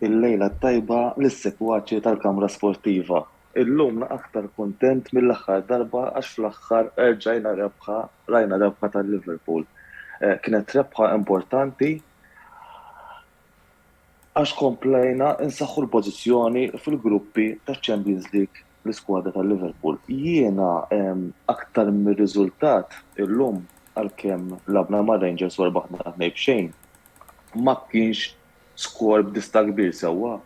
Il-lejla t-tajba lis-segwaċi tal-Kamra Sportiva. Illum na aktar kuntent mill-aħħar darba għax fl-aħħar erġajna rebħa, rajna rebħa ta' Liverpool. Kienet rebħa importanti għax komplejna nsaħħu l-pożizzjoni fil-gruppi taċ-Champions League l-iskwadra ta' Liverpool. Jiena aktar mir-riżultat illum għalkemm lagħbna ma' Rangers u rbaħna tnejn b'xejn ma kienx skor b'dista' kbir sewwa.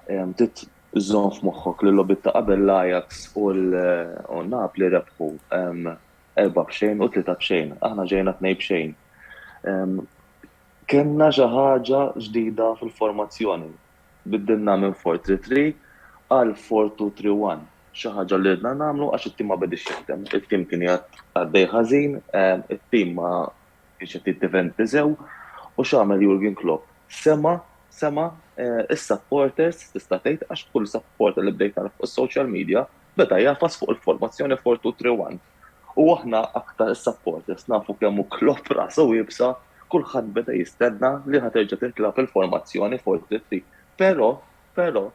Trid żżomm f'moħħok li l-logħbiet ta' qabel l-Ajax u Napli rebħu erba' b'xejn u tlieta b'xejn. Aħna ġejna tnejn b'xejn. Kellna xi ħaġa ġdida fil-formazzjoni. Biddilna minn four three three għal four two three one, xi ħaġa li ridna nagħmlu għax it-tim ma bediex jaħdem. It-tim kien qiegħed għaddej ħażin, it-tim ma kienx qed jiddifendi sew u x'għamel Jurgen Klopp? Sema' sema' is-supporters tista' tgħid għax kull supporter li bdejt nara fuq is-social media beda jagħfas fuq il-formazzjoni four two three one. U aħna aktar is-supporters nafu kemm hu Klopp rasu iebsa, kulħadd beda jistenna li ħa terġa' titlagħab il-formazzjoni 4-3-3. Però, però,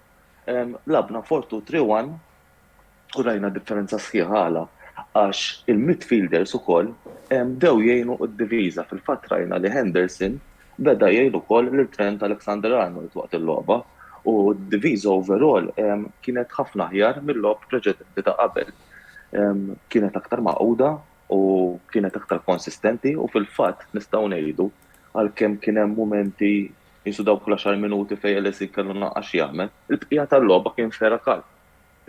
lagħabna 4-2-3-1 u rajna differenza sħiħa għala? Għax il-midfielders ukoll bdew jgħinu d-diviża, fil-fatt rajna li Henderson beda jgħin ukoll lil Trent Alexander-Arnold waqt il-logħba u d-diviża overall kienet ħafna aħjar mil-logħob preċedenti ta' qabel. kienet aktar magħquda u kienet aktar konsistenti u fil-fatt nistgħu ngħidu għalkemm kien hemm mumenti jisu dawk l-10 minuti fejn LSI kellu naqqax jagħmel, il-bqija tal-logħba kien fera kal.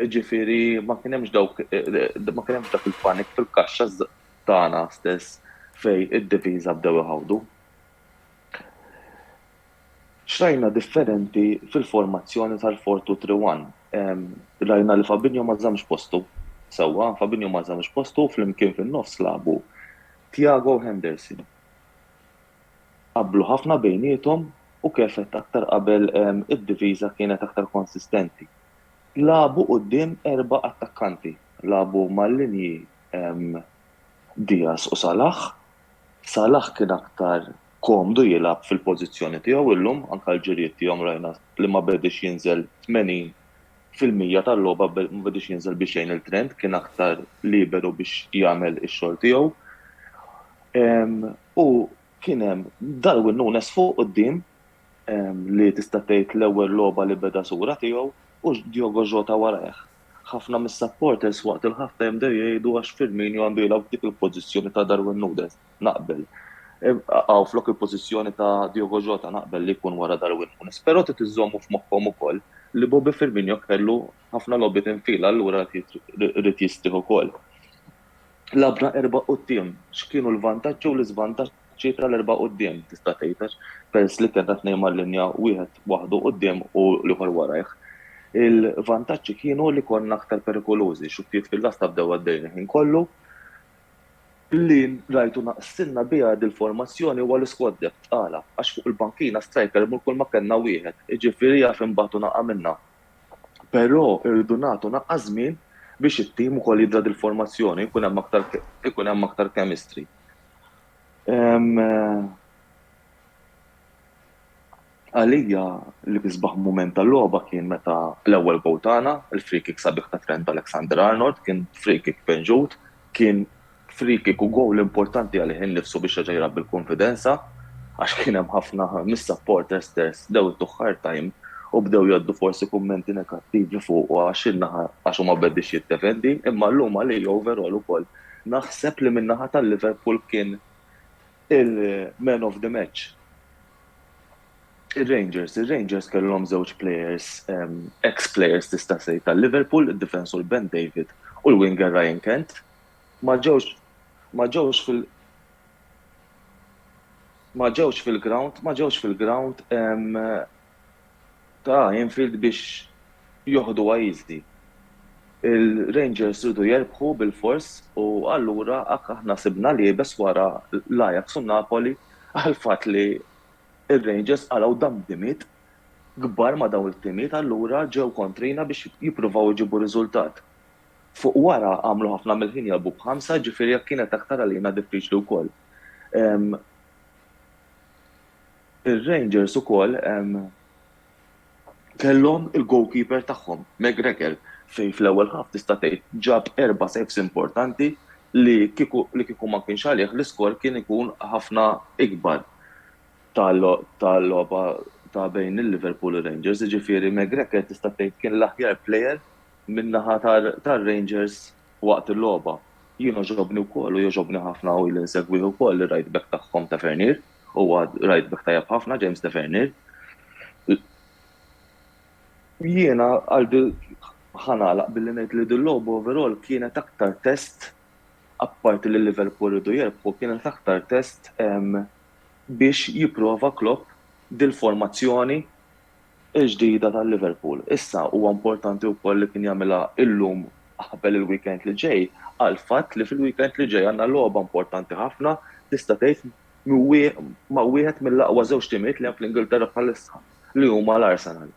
Ġifieri ma kien hemmx dawk ma kien hemmx dak il-panik fil-kaxxa tagħna stess fejn id-diviża bdew iħawdu. X'rajna differenti fil-formazzjoni tal-four-two-three-one? Rajna li Fabinho ma żammx postu. Sewwa, Fabinho ma żammx postu u flimkien fin-nofs lagħbu Thiago u Henderson. Qablu ħafna bejniethom u kif għedt aktar qabel id-difiża kienet aktar konsistenti. Lagħbu quddiem erba' attakkanti. Lagħbu mal-linji Diaz u Salah Salah kien aktar komdu jilgħab fil-pożizzjoni tiegħu illum, anke l-ġirjiet tiegħu rajna li ma bediehx jinżel 80 fil-mija tal-logħba ma bediehx jinżel bi xejn il-Trent, kien aktar liberu biex jagħmel ix-xogħol tiegħu. U kien hemm Darwin Nunes fuq quddiem li tista' tgħid l-ewwel logħba li beda sura tiegħu u Diogo Jota warajh. Ħafna mis-supporters waqt il-half time bdew jgħidu għax Firmino għandu jilgħab f'dik il-pożizzjoni ta' Darwin Nunez. Naqbel. Aw flok il-pożizzjoni ta' Diogo Jota, naqbel li jkun wara Darwin Nunez. Però trid iżommu f'moħħhom ukoll li Bobby Firmino kellu ħafna logħbiet infila allura ried jistrieħ ukoll. Lagħbna erba' quddiem, x'kienu l-vantaġġi u l-iżvantaġġi? ċifra 'l erbgħa quddiem, tista' tgħid, għax peress li kellna tnejn mal-linja, wieħed waħdu quddiem u l-ieħor warajh, il-vantaġġi kienu li konna aktar perikolużi. Xukkiet fil-lasta bdew għaddejjin il-ħin kollu. Li rajtu naqsilna biha dil-formazzjoni huwa l-isquad depth. Għala? Għax fuq il-bankina striker mur kulma kellna wieħed, jiġifieri jaf imbagħtu naqa' minnha. Però irridu nagħtu naqqa' żmien biex it-tim ukoll jidhra dil-formazzjoni, ikun hemm aktar, ikun hemm aktar chemistry. Għalija l-isbaħ mument tal-logħba kien meta l-ewwel gowl tagħna, il-free kick sabiħ ta' Trent Alexander-Arnold, kien free kick penġut, kien free kick u gowl importanti għalih innifsu biex reġa' jilgħab bil-kunfidenza għax kien hemm ħafna mis-supporters stess bdew ituh hard time u bdew jgħaddu forsi kummenti negattivi fuqu għax in-naħa għax hu ma bdex jiddefendi, imma llum għalija overall ukoll Naħseb li min-naħa ta' Liverpool kien il-man of the match ir-Rangers. Ir-Rangers kellhom żewġ players, ex players tista' tgħid ta' Liverpool, id-difensur Ben David u l-winger Ryan Kent. Ma ġewx ma ġewx fil ma ġewx fil-ground ma ġewx fil-ground ta' Anfield biex joħdu għajzi. Il-Rangers riedu jerbħu bilfors u allura hekk aħna sibna l-iebes wara l-Ajax u n-Napoli għall-fatt li r-Rangers qalgħu dambimiet kbar ma' dawn it-timiet allura ġew kontrina biex jippruvaw iġibu r-riżultat. Fuq wara għamlu ħafna mill-ħin jilgħbu b'ħamsa ġifieri hekk kienet aktar għalina diffiċli wkoll. Ir-Rangers ukoll kellhom il-goalkeeper tagħhom, McGregor, fejn fl-ewwel half tista' tgħid ġab erba' saves importanti li kieku li kieku ma kienx għalih l-iskor kien ikun ħafna ikbar tal-logħba ta' bejn il-Liverpool u r-Rangers. Jiġifieri McGregor tista' tgħid kien l-aħjar player min-naħa tar-Rangers waqt il-logħba. Jien għoġobni wkoll u jogħġobni ħafna u ili nsegwih ukoll ir-right back tagħhom Tavernier. Huwa right back tajjeb ħafna, James Tavernier. Jiena qalbi ħanalaq billi ngħid li dil-logħba overall kienet aktar test apparti li Liverpool riedu jirbħu, kienet aktar test biex jipprova Klopp dil-formazzjoni l-ġdida ta' Liverpool. Issa huwa importanti wkoll li kien jagħmilha illum qabel il-weekend li ġej għall-fatt li fil-weekend li ġej għandna logħba importanti ħafna tista' tgħid ma' wieħed mill-aqwa żewġ timijiet li hemm fl-Ingilterra bħalissa li huma l-Arsenal.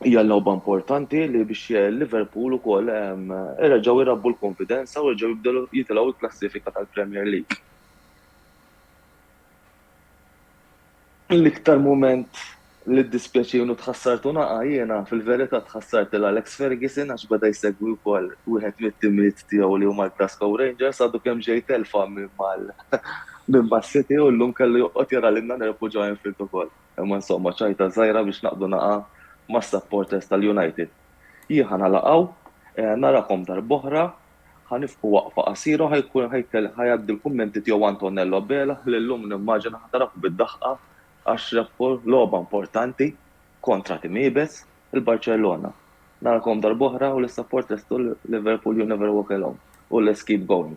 Hija logħba importanti li biex Liverpool ukoll reġgħu jrabbu l-kunfidenza u jerġgħu jibdew jitilgħu l-klassifika tal-Premier League. L-iktar mument li ddispjaċiewni u tħassart u naqa' jiena, fil-verità tħassart lil Alex Ferguson għax beda jsegwi wkoll wieħed mit-timiet tiegħu li huma l-Glasgow Rangers, għadu kemm ġej telfa minn mas-City u llum kellu joqgħod jara lilna nirbħu ġo Anfield ukoll. Imma insomma, ċajta żgħira biex naqbdu naqa' mas-supporters tal-United. Jien ħa nagħlaq hawn, narakom darb'oħra Ħa nifqu waqfa qasira u ħa jkun ħa jgħaddi l-kummenti tiegħu Antonello Abela li llum nimmaġina ħa taraħ bid-daħqa għax rebħu logħba importanti kontra tim iebes, il-Barċellona. Narakom darb'oħra u l-issapport lestu Liverpool you never walk alone u let's keep going.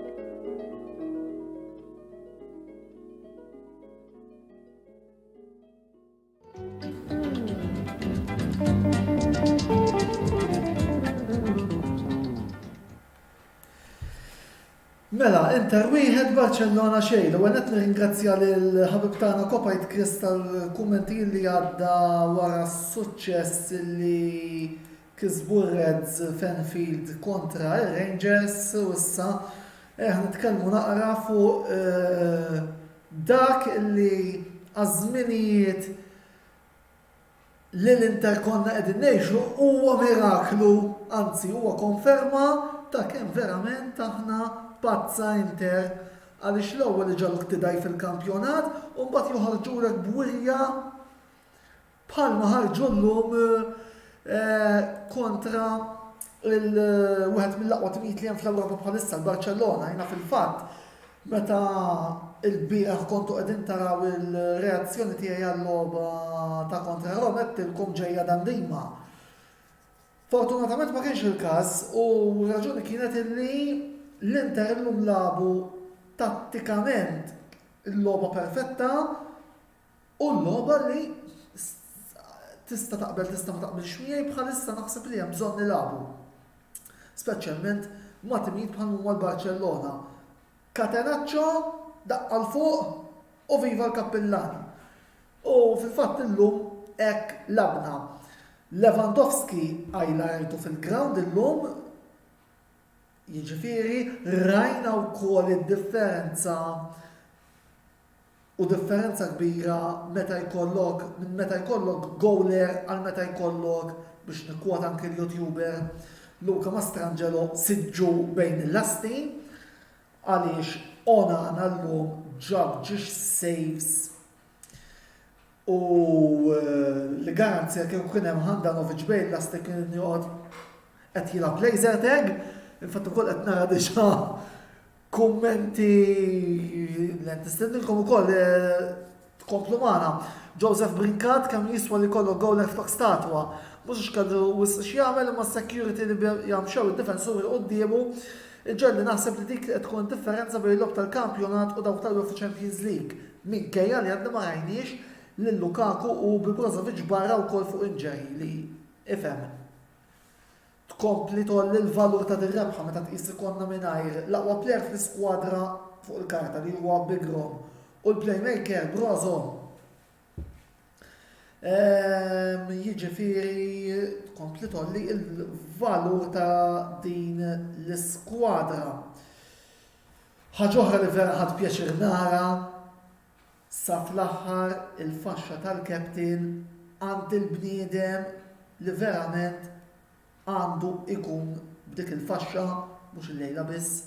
Mela, Inter wieħed Barcellona xejn, u għanet ringrazzja l-ħabib tagħna Kopajt Kris tal-kummenti li għadda wara s-suċċess li Kisbu r-Reds f'Anfield kontra r-Rangers u issa eh nitkellmu naqra fuq dak li għaż-żminijiet li l-Inter konna qegħdin ngħixu huwa miraklu, anzi huwa konferma ta' kemm verament aħna pazza Inter għaliex l-ewwel iġagħluk tidgħajf fil-kampjonat u mbagħad joħorġulek b'wirja bħalma ħarġu llum kontra wieħed mill-aqwa timijiet li hemm fl-Ewropa bħalissa, l-Barċellona, jiena fil-fatt meta il-bieħ kontu qegħdin taraw il-reazzjoni tiegħi għal-logħba ta' kontra Roma tilkom ġejja dan dima. Fortunatament ma kienx il-każ u raġuni kienet illi l-Inter illum labu tattikament il-logħba perfetta Hu l-logħba li tista' taqbel tista' ma taqbilx miegħi bħalissa naħseb li hemm bżonn nilagħbu speċjalment ma' timijiet bħal huma l-Barċellona. Catenaccio, daqqa 'l fuq u viva l-Kappillan! U fil-fatt illum hekk lagħbna. Lewandowski highlightu fil-grawnd illum jiġifieri rajna wkoll id-differenza u differenza kbira meta jkollok minn meta jkollok gowler għal meta jkollok, biex nikkwota anki l-YouTuber Luca Mastrangelo, siġġu bejn il-lasti għaliex Onana llum ġab ġiex saves u li garanzija kieku kien hemm Handanovic bejn l-lasti kien joqgħod qed jilgħab laser tag, infatt ukoll qed nara diġà Kummenti li nistednilkom ukoll tkomplu magħna. Joseph Brincat kemm jiswa li jkollok goal left back statwa. Mhux għax kellu wisq x'jagħmel imma s-security li biha mxew id-difensuri quddiemu iġegħelni naħseb li dik li qed tkun id-differenza bejn logħob tal-kampjonat u dawk tal-UEFA Champions League minkejja li għadna ma rajniex lil Lukaku u bi Brozovic barra wkoll fuq injury li ifhem tkompli tgħolli l-valur ta' din rebħa meta tqis li konna mingħajr l-aqwa plejer fl-iskwadra fuq il-karta li huwa Big Rom u l-playmaker Brozo. Ehm, jiġifieri tkompli tgħolli l-valur ta' din l-iskwadra. Ħaġa oħra li vera ħadd pjaċir nara Sa fl-aħħar il-faxxa tal-captain għand il-bniedem li verament għandu jkun b'dik il-faxxa, mhux illejla biss,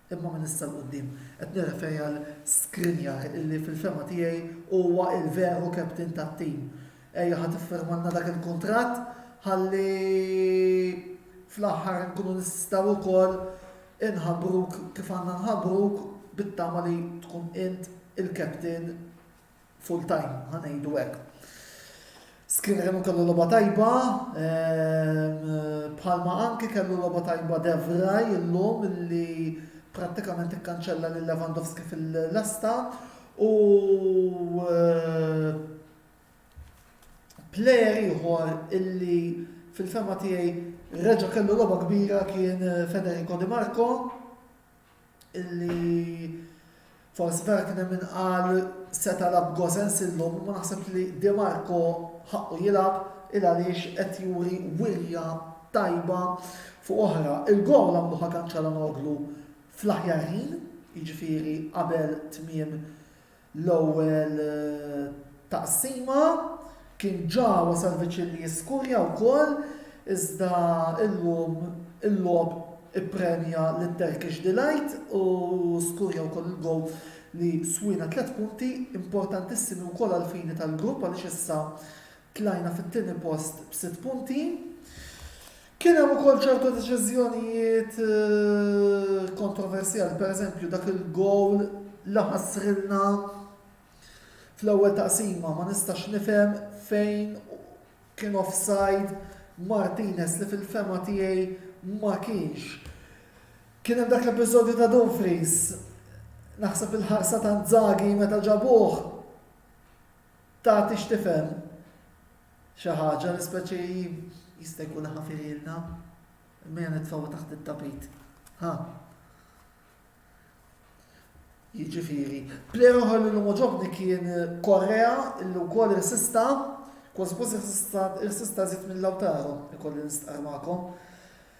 imma minn issa 'l quddiem. Qed nirreferi għal Skriniar illi fil-fehma tiegħi huwa l-veru captain tat-tim. Ejja ħa tiffirmalna dak il-kuntratt ħalli fl-aħħar inkunu nistgħu wkoll Inħabbruk kif għandna nħabbruk bit-tama li tkun int il-captain full time, ħa ngħidu hekk. Skriniar kellu logħba tajba, bħalma anki kellu logħba tajba Devraj illum li prattikament ikkanċella lil Lewandowski fil-lesta u Plejer ieħor illi fil-fema tiegħi reġa' kellu logħba kbira kien eh, Federico Di Marco illi forsi vera kien hemm inqal seta lab Gosens illum ma naħseb li Di Marco ħaqqu jilgħab il għaliex qed juri wirja tajba fuq oħra. Il-gol għamluħa kanċala noglu fl-aħjar ħin, jiġifieri qabel tmiem L-ewwel taqsima kien ġa wasal viċin li jiskurja wkoll iżda illum il-logħob ippremja lil Turkish Delight u skurja wkoll il-gowl li swiena tliet punti importantissimi wkoll għall-fini tal-grupp għaliex issa tlajna fit-tieni post b'sitt punti. Kien hemm ukoll ċertu deċiżjonijiet kontroversjali, pereżempju dak il-gowl li ħassrilna fl-ewwel taqsima ma nistax nifhem fejn kien offside Martinez li fil-fema tiegħi ma kienx. Kien hemm dak l-episodju ta' Dumfries naħseb il-ħarsa ta' Zagi meta ġabuh Tagħti x'tifhem xi ħaġa li speċi jista' jkun ħafililna. Mejja nitfgħu taħt it-tapit. Ha. Jiġifieri, plejer oħra li l-lum ġobni kien Korea illi wkoll irsista, kważi kważi irsista żied minn Lautaro, ikolli nistqar magħkom.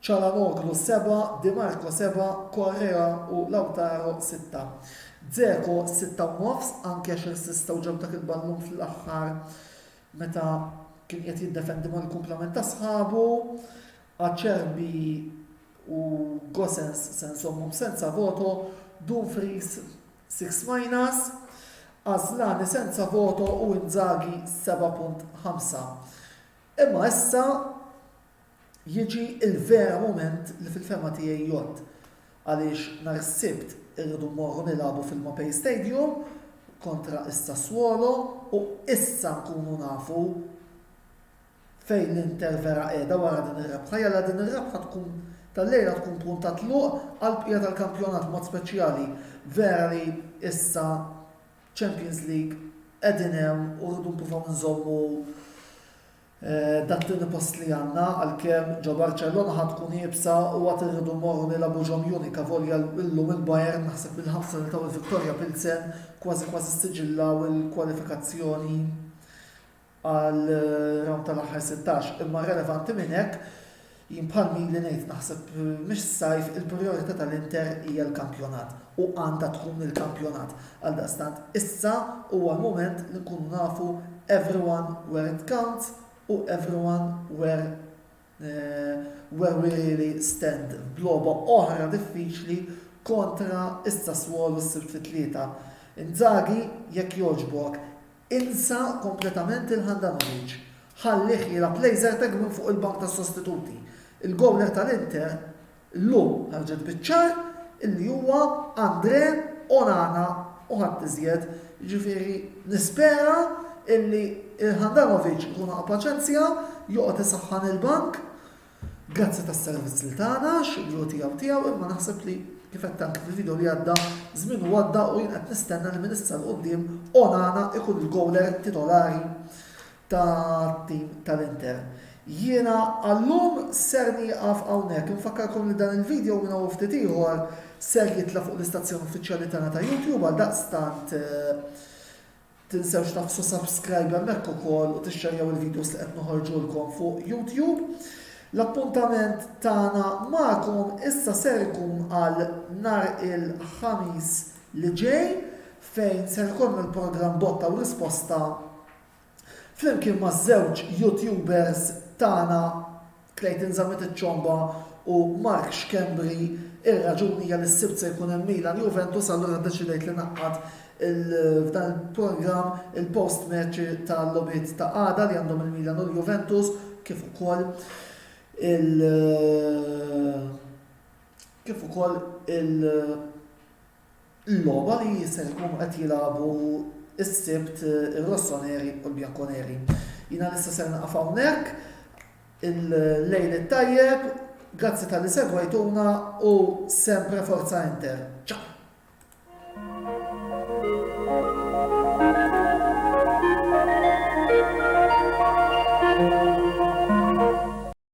Calhanoglu 7, Di Marco 7, Correa u Lautaro 6. Dzeko 6 u nofs, anke għax irsistew ġab dak il-ballun fl-aħħar meta kien qiegħed jiddefendi mal-kumplament ta' sħabu. Acerbi u Gosens se nżommhom senza voto, Dumfries 6 minus, Asllani senza voto u Inzaghi 7.5. Imma issa jiġi l-vera mument li fil-fehma tiegħi jgħodd għaliex nhar is-Sibt irridu mmorru nilagħbu fil-Mapei Stadium kontra s-Sassuolo u issa nkunu nafu fejn l-Inter vera qiegħda wara din ir-rebħa. Jalla din ir-rebħa tkun tal-lejla tkun punt ta' tluq għall-bqija tal-kampjonat b'mod speċjali. Vera li issa Champions League qegħdin hemm u rridu nipruvaw nżommu Dak tieni post li għandna, għalkemm ġo Barċellona ħa tkun iebsa u għad irridu mmorru nilagħbu ġo Munich avolja llum il-Bayern naħseb bil-ħamsa li taw il-Viktoria Pilsen kważi kważi ssiġillaw il-kwalifikazzjoni għal rawnd tal-aħħar sittax. Imma relevanti minn hekk, Jien bħal min li ngħid naħseb mhix s-sajf il-prijorità tal-Inter hija l-kampjonat u għandha tkun il-kampjonat. Għaldaqstant issa huwa l-mument li nkunu nafu everyone where it counts u everyone where where we really stand f'logħba oħra diffiċli kontra s-Sassuolo s-Sibt fit-Tlieta. Inzaghi jekk jogħġbok Insa kompletament lil Handanovic. Ħallih jilgħab Lejzertek minn fuq il-bank tas-sostituti. Il-gowler tal-Inter llum ħarġet biċ-ċar illi huwa Andre Onana u ħadd iżjed. Jiġifieri nispera illi Handanovic ikun ħa paċenzja, joqgħod isaħħan il-bank Grazzi tas-servizz li tana, x'iblu tiegħu tiegħu, imma naħseb li kif qed tant fil-video li għadda, żmien u għadda u jien qed nistenna li minn issa l quddiem Onana ikun il-gowler titolari tat-tim tal-Inter. Jiena għallum ser nieqaf hawnhekk, infakkarkom li dan il-video minn hawn ftit ieħor ser jitla' fuq l-istazzjon uffiċjali tagħna ta' YouTube għal daqstant eh, Tinsewx tagħfsu subscribe hemmhekk ukoll u tixxerjaw il-videos li qed noħorġulkom fuq YouTube. L-appuntament tagħna magħkom issa ser ikun għal nhar il-Ħamis li ġej fejn ser ikun il-programm botta u risposta flimkien maż-żewġ YouTubers tagħna Clayton Zammit iċċomba u Mark Schembri r-raġuni hija li s-Sibt se jkun hemm Milan Juventus allura ddeċidejt li ngħaqqad f'dan il-programm il-post-match tal-logħbiet ta' għada li għandhom il-Milan u l-Juventus kif ukoll il kif ukoll il Il-logħba li se jkunu qed jilagħbu s-Sibt ir-Rossoneri u l-Bianconeri. Jiena nista' ser nieqaf hawnhekk. Il-lejl it-tajjeb, grazzi talli segwejtuna u sempre Forza Inter. Ciao!